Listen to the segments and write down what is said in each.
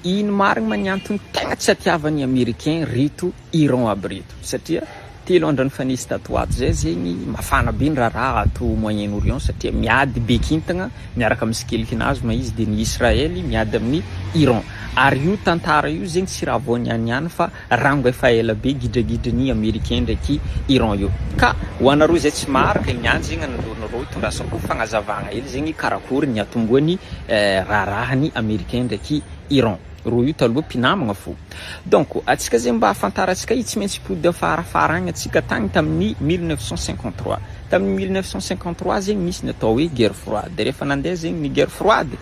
Ino marigna ny antony tegna tsy atiavan'ny americain reto Iran aby reto satria telo andro nifanesy tato ho ato zay zegny mafana be ny raharaha ato moyen orient satria miady be kintagna miaraka amin'ny skelikinazy ma izy de ny Israely miady amin'ny Iran ary io tantara io zegny tsy raha vao nianiany fa Rango efa ela be gidragidra ny americain ndraiky Iran io ka ho anareo izay tsy maro le miandry zegny anareo reo itondrasa ko fagnazavagna hely zegny karakory ny atomboany raharahany americain ndraiky Iran reo io taloha mpinamagna fo donc atsika zegny mba afantaratsika io tsy maintsy hipody afarafara agny atsika tagny taminy mille neuf cent cinquante trois. Tamin'ny mille neuf cent cinquante trois zegny nisy ny atao hoe guerre froide, rehefa nandeha zegny ny guerre froide,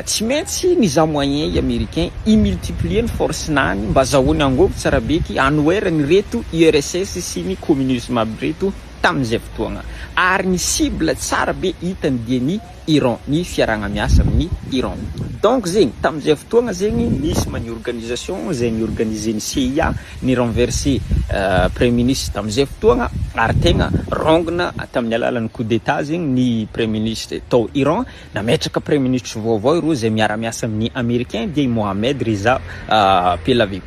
tsy maintsy nizaha moyen i Americain hi-multiplier ny force-nany mba azahoany angôvo tsara be ty hanoera an'ireto URSS sy ny communisme aby reto tamin'izay fotoagna. Ary ny cible tsara be hitany dia ny. Iran ny fiaragnamiasa amin'ny Iran. Donc zegny tamin'izay fotoagna zegny nisy ma ny organisation izay ni organiser ny CIA ni renverser premier ministre tamin'izay fotoagna ary tegna rongina tamin'ny alalan'ny coup d'etat zegny ny premier ministre tao Iran nametraka premier ministre vaovao ireo izay miara miasa amin'ny americain dia i Mohamed Reza Pelavi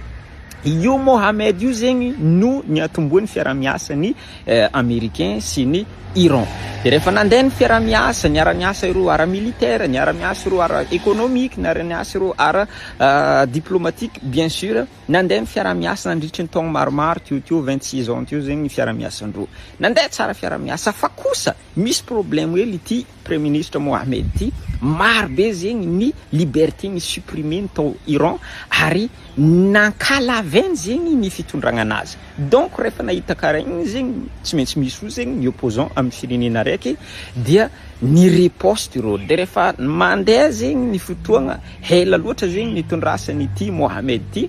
io Mohamed io zegny no niatombohan'ny fiaraha-miasa ny Americain sy ny Iran. Dia rehefa nandeha ny fiaraha-miasa, niara-niasa ireo ara militaire, niara-miasa ireo ara economique, niara-niasa ireo ara diplomatique bien sur, nandeha ny fiaraha-miasa nandritry ny taogno maromaro teo teo, vingt six ans teo zegny ny fiaraha-miasan-droa. Nandeha tsara fiaraha-miasa fa kosa misy problème hely ity Praiministra Mohamed ty, maro be zegny ny liberté ni supprimer ny tao Iran ary nankalavn zegny ny fitondragna anazy. Donc rehefa nahita karaha igny zegny tsy maintsy misy ozy zegny ny opposant aminy firenena araiky dia ni riposte ireo dia rehefa mandeha zegny ny fotoagna hela loatra zegny ny tondrasany ity Mohamed ty,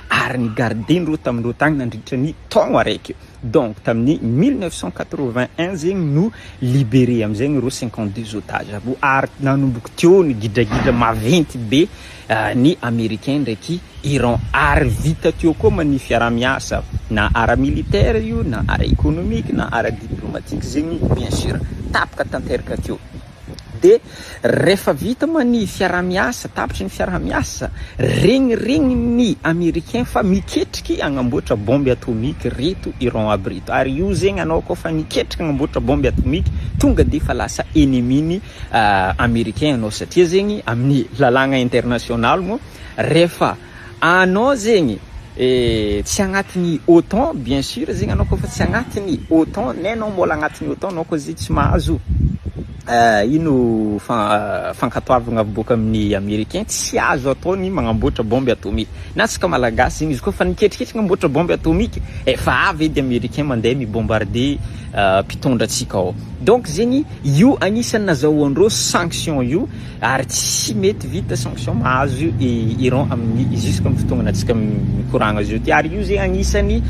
ary ny gardeny roa tamin'ny roa tany nandritra ny taogno araiky eo. Donc tamin'ny 1981 zegny no liberer amizay ny reo 52 otages avy eo ary nanomboky teo ny gidragidra maventy be ny americain ndraiky Iran ary vita teo koa ma ny fiarahamiasa na ara militaire io na ara economique na ara diplomatique zegny bien sur tapaka tanteraka teo. Dia rehefa vita moa ny fiaraha-miasa, tapitry ny fiaraha-miasa, regniregnin'ny Americain fa miketriky hagnamboatra bombe atomique ireto Iran aby ireto. Ary io zegny anao koa fa niketriky hagnamboatra bombe atomique, tonga dia efa lasa ennemi-ny Americain anao satria zegny amin'ny lalàgna international moa rehefa Anao zegny tsy agnatiny otan bien sur zegny anao kôfa tsy agnatiny otan ne anao mbôla agnatiny otan anao kô zegny tsy mahazo ino fankatoavagna avy bôka amin'ny americain tsy azo atao ny magnamboatra bombe atomique na antsika malagasy zegny izy kôfa niketriketriky agnamboatra bombe atomique efa avy edy americain mande mi bombarde mpitondra antsika ao donc zegny io agnisany nazahoandreo sanction io Ary tsy mety vita sanction mahazo i Iran amin'ny jusque amin'ny fotoagnana antsika mikoragna zao ty. Ary io zegny agnisan'ny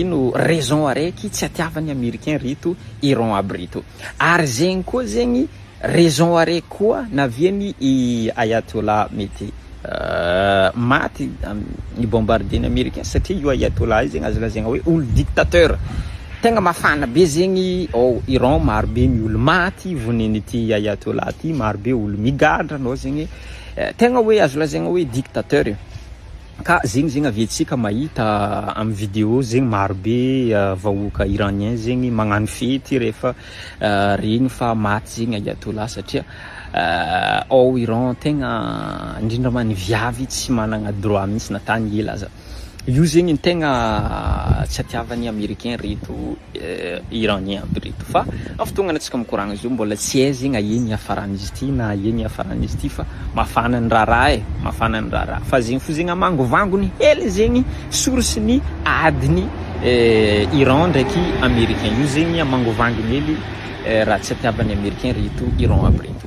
ino raison araiky tsy atiavan'ny Americain reto Iran aby reto. Ary zegny koa zegny raison araiky koa navian'i Ayatollah mety. Maty ny bombardier ny Americain satria io Ayatollah io zegny azo lazaigna hoe olo dictateur. Tegna mafana be zegny ao Iran, maro be ny olo maty vonen'ity Ayatollah ty, maro be olo migadra nao zegny tegna hoe azo lazaigna hoe dictateur e. Ka zegny zegny avy antsika mahita am video zegny maro be vahoaka Iranien zegny magnano fety rehefa Regny fa maty zegny Ayatollah satria ao Iran tegna indrindra ma ny viavy tsy managna droit mintsy na tany ela aza. Io zegny ny tegna tsy atiavan'ny Americain reto Iranien aby reto fa am fotoagnana antsika mikoragna zao mbola tsy hay zegny aia ny hiafaran'izy ty na aia ny hiafaran'izy ty fa mafana ny raharaha e, mafana ny raharaha fa zegny fo zegny amangovangony hely zegny source-ny adin'ny Iran ndraiky americain io zegny mangovangy mely raha tsy hatiavan'ny americain reto Iran aby reto.